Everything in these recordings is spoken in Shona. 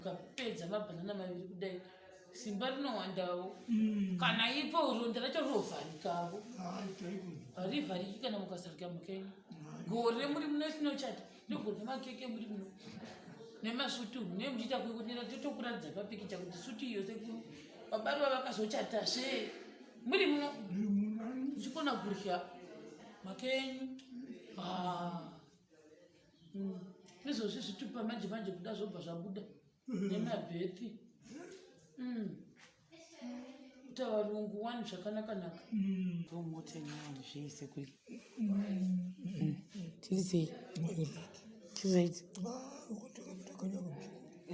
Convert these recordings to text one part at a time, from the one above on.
ukapedza mabhanana maviri kudai simba rinowandawo mm. kana ipo ronda racho rinovharikavo harivhariki kana mukasarika mukenyu gore muri muno sinochata ndogore nemakeke muri muno nemasutu ne muchiita kukunira totokuratidza papikicha kuti sutu iyo sekuru babari vavakazochata zve muri muno uchikona kurya makenyu ah. mm. izvozvi zvitupa manje manje kuda zvobva zvabuda mm-hmm. nemabethi mm. kuita varungu wani zvakanakanaka tomotenani mm. zvese kuri tirisei tizaiti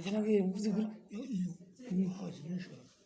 kana kuye mbuzi kuri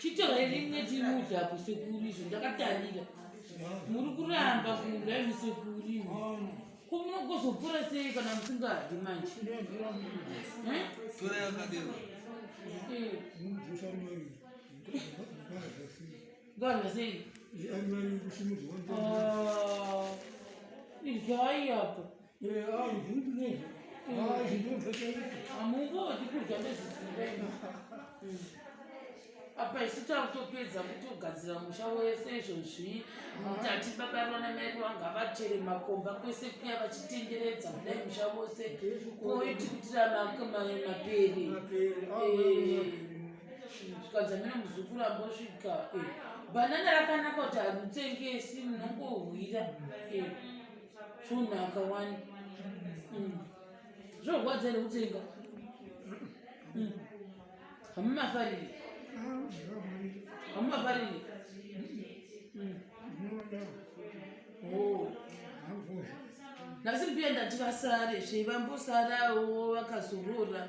chitorai rimwe timuti apo sekuru izvo ndakatarira muri kuramba kuda imi sekuru imi ko munogozopora sei kana musingadyi manje Eh? Tora yakadero. Eh, ngarya sei Ah, idyai apo hamungodi kudya nezvisingaina apa isu takutopedza kutogadzira musha wese izvozvi mutati baba rona mai wanga vachere makomba kwese kuya vachitenderedza kudai musha wose koiti kutira maperi zvikanzi amene muzukuru ambosvika eh, bhanana rakanaka kuti harutengesi munongohwira eh. zvonaka wani mm. zvorwadza here kutsenga mm. hamumafariri hamumafariri nasi mbiya ndati vasare zvevambosarawo vakazorora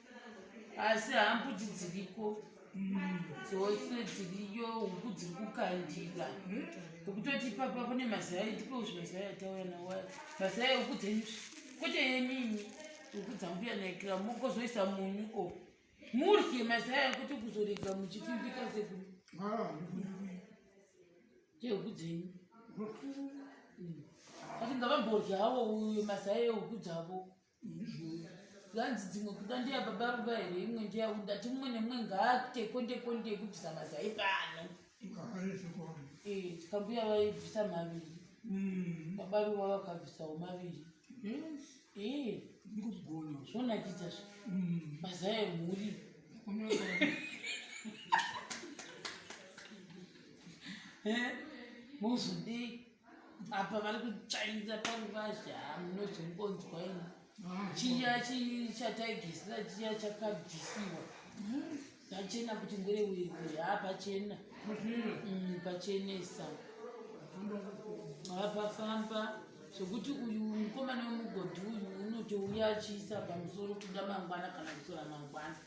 asi hambudzi dziriko dzose dziriyo huku dziri kukandira ukutoti ipapa kune mazaya ndiko zvi mazaya atauya nawa mazaya huku dzenyu kwete yenini huku dzambuya naikira mokozoisa munyu o murye mazaya kuti kuzorega muchipimbika seku chehuku dzenyu ati ngavamboryawo uyo mazaya ehuku dzavo zvanzi dzimwe kuda ndiya baba ruva here imwe ndiya undati mumwe nemumwe ngaakute konde konde yekubvisa mazai pano tikambuya eh, vaibvisa maviri mm. baba ruva vakabvisawo maviri eh, zvonakidza zve mm. mazai emhuri eh, mozodei apa vari kutsvainza paruvazhe hamunozongonzwa ini chiya chataigisira chiya chakabvisiwa pachena kuti ngore wekwe haa pachena mm, pachenesa hapafamba zvekuti uyu mukomana wemugodhi uyu unotouya achiisa pamusoro kuda mangwana kana kusora mangwana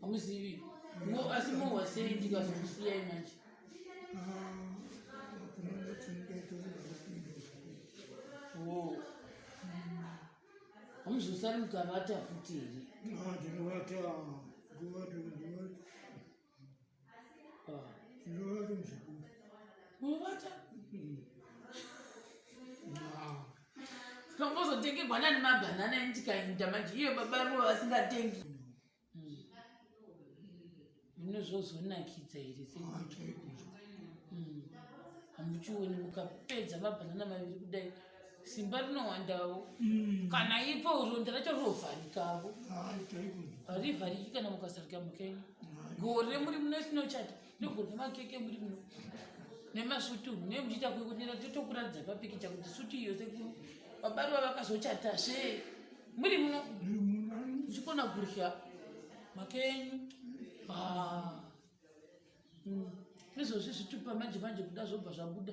hamuzivi mo asi mohwa sei ndikazokusiyai manje hamuzosari mukavata futi here Kambozotengerwa nani mabhanana endikainda manje iyo baba vo vasingatengi zvino zvozonakidza here hamuchioni mukapedza mabhanana maviri kudai simba rinowandawo mm. kana ipo ronda racho rinovharikavo harivhariki kana mukasarika mukenyu gore muri muno sinochata nogorwa makeke muri muno nemasutu mune muchiita kuikunira totokuratidza papikicha kuti sutu iyo sekuru vabarwa vakazochata se muri muno uchikona kurya makenyu ah. mm. izvozvi zvitupa manje manje kuda zvobva zvabuda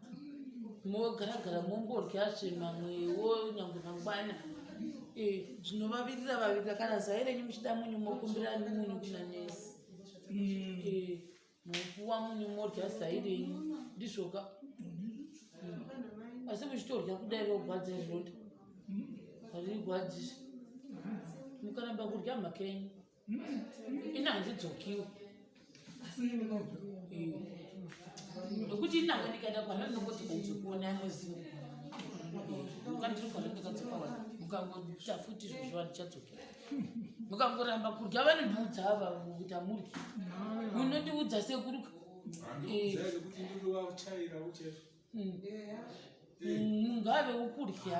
mogaragara mongorya zve mamwewo nyangwe mangwana eh, zvinovavirira vavirira kana zai renyu muchida munyu mokumbira munyu kuna nesi mm. eh, mopuwa munyu morya zai renyu ndizvoka mm. asi muchitorya kudai rogwadza izvota mm. haririgwadzisi mukaramba kurya mhaka yenyu ina handidzokiwo nokuti inavo ndikaenda kwana ndinongoti ndadzokuona amoziva kandiri kwana ndikadzoka wa mukangoita futi zvozvo vandichadzokera mukangoramba kudya vanondiudza ava kuti amuri munondiudza sekuruka ngaave ukudya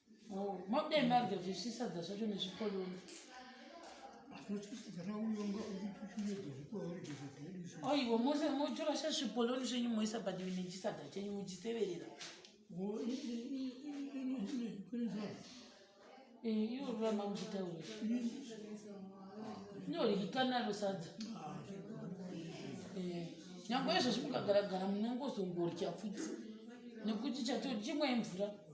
Oh, mabudai mabva zvisvisadza zvacho nezvikoloni aiwa mose motora sha zvipoloni zvenyu moisa badi nechisadza chenyu muchiteverera ivo rurama muchitaura inorikikanaro sadza nyango izvozvi mukagaragara munongozongorya futi nekuti chatochimwe mvura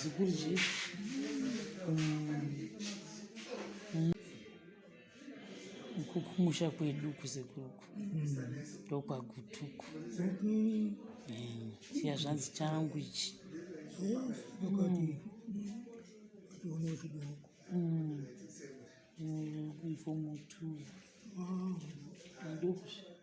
Ziguzi. kumusha kwedu kuzekuruku ndokwagutuku mm. eh, siya zvanzi changu ichi mm. ifo mutu ndokusvika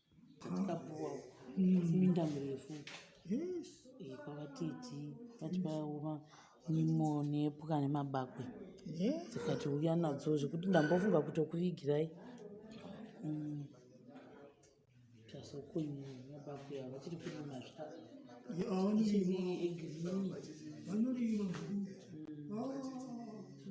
Kapuwa minda mirefu eh, kwavatiti vati vaoma nyimo nepwa nemabakwe dzikati uya nadzo zvekuti ndambofunga kutokuvigirai mm. tasokunyi mabakwe ava vachiri kurima zvavanoriima